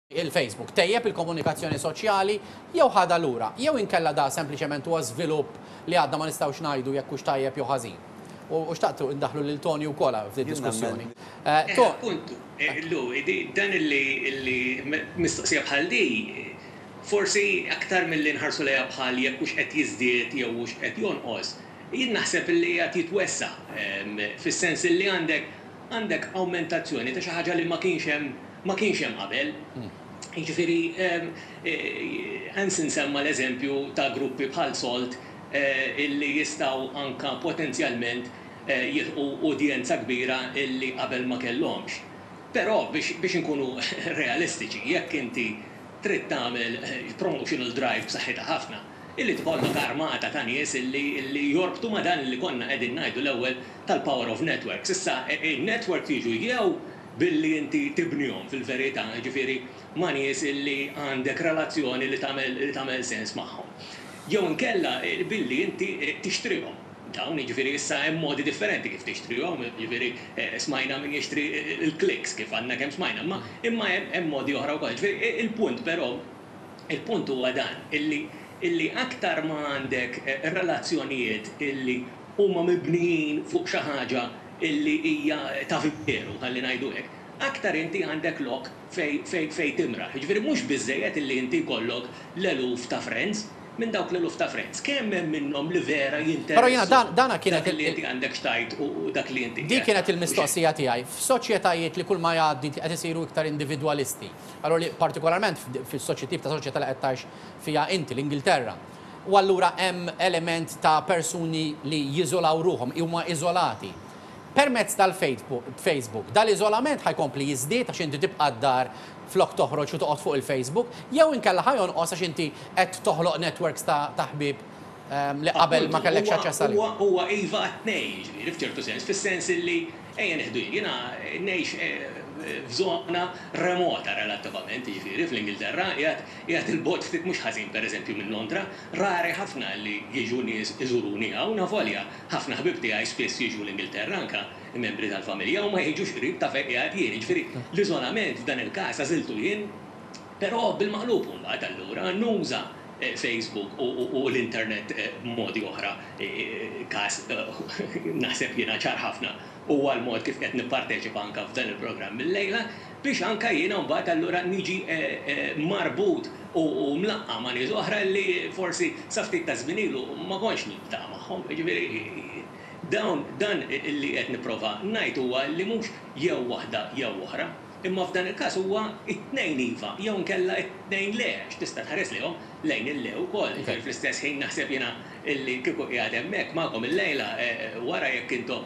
il-Facebook tejjeb il-komunikazzjoni soċjali jew ħadha lura, jew inkella da sempliċement huwa żvilupp li għadna ma nistgħux ngħidu jekk hux tajjeb jew ħażin? U xtaqt indaħħlu lil Tony wkoll hawn f'din id-diskussjoni. Eħe, appuntu. Illu, dan illi, illi, mistoqsija bħal di, forsi aktar milli nħarsu lejha bħal jekk hux qed jiżdied jew hux qed jonqos, jien naħseb illi qiegħed jitwessa', fis-sens illi għandek, għandek awmentazzjoni ta' xi ħaġa li ma kienx hemm, ma kienx hemm qabel. Jiġifieri, Hansen semma l-eżempju ta' gruppi bħal Salt li jistgħu anke potenzjalment jilħqu udjenza kbira li qabel ma kellhomx. Però biex inkunu realistiċi, jekk inti trid tagħmel promotional drive b'saħħitha ħafna, irid ikollok armata ta' nies li jorbtu ma' dan li konna qegħdin ngħidu l-ewwel tal-power of networks. Issa, in-networks jiġu jew billi inti tibnihom fil-verità, jiġifieri ma' nies li għandek relazzjoni li tagħmel sens magħhom. Jew inkella billi inti tixtrihom dawn, jiġifieri issa hemm modi differenti kif tixtrihom, jiġifieri smajna min jixtri l-clicks kif għadna kemm smajna, imma imma hemm modi oħra wkoll. Jiġifieri il-punt però, il-punt huwa dan, illi illi aktar ma għandek relazzjonijiet illi huma mibnijin fuq xi ħaġa illi hija ta' veru, ħalli ngħidu hekk, aktar inti għandek lok fejn timraħ. Jiġifieri mhux biżżejjed illi inti jkollok l-eluf ta' friends. Minn dawk l-eluf ta' friends, kemm hemm minnhom li vera jinteressu dak li inti għandek x'tgħid u dak li inti qed tgħid? Dik kienet il-mistoqsija tiegħi. F'soċjetajiet li kull ma jgħaddi qed isiru iktar individwalisti, allura li partikolarment fis-soċjetiep ta' soċjetà li qed tgħix fiha inti, l-Ingilterra, u allura hemm element ta' persuni li jiżolaw ruħhom, huma iżolati. Permezz tal-Facebook, dan l-iżolament ħa jkompli jiżdied għax inti tibqa' d-dar flok toħroġ u toqgħod fuq il-Facebook, jew inkella ħa jonqos għax inti qed toħloq networks ta' ħbieb li qabel ma kellekx aċċess għalihom. Appuntu, huwa huwa iva għat-tnejn, jiġifieri, f'ċertu sens, fis-sens illi, ejja nieħdu jien, jiena ngħix f'żona remota relattivament, jiġifieri, fl-Ingilterra, qiegħed Qiegħed 'il bogħod ftit mhux ħażin pereżempju minn Londra, rari ħafna li jiġu nies iżuruni hawn avolja ħafna ħbieb tiegħi spiss jiġu l-Ingilterra anke membri tal-familja u ma jiġux qrib ta' fejn qiegħed jien, jiġifieri l-iżolament f'dan il-każ għażiltu jien. Però bil-maqlub imbagħad allura nuża Facebook u l-internet b'modi oħra. Każ naħseb jiena ċar ħafna huwa l-mod kif qiegħed nipparteċipa anke f'dan il-programm illejla. biex anke jiena mbagħad allura niġi marbut u mlaqqa' ma' nies oħra li forsi sa ftit taż-żmien ilu ma kontx niltaqa' magħhom. Jiġifieri dawn dan li qed nipprova ngħid huwa li mhux jew waħda jew oħra, imma f'dan il-każ huwa t-tnejn iva jew inkella t-tnejn le għax tista' tħares lejhom lejn il-le wkoll. Jiġifieri fl-istess ħin naħseb jiena li kieku qiegħed hemmhekk magħkom illejla wara jekk intom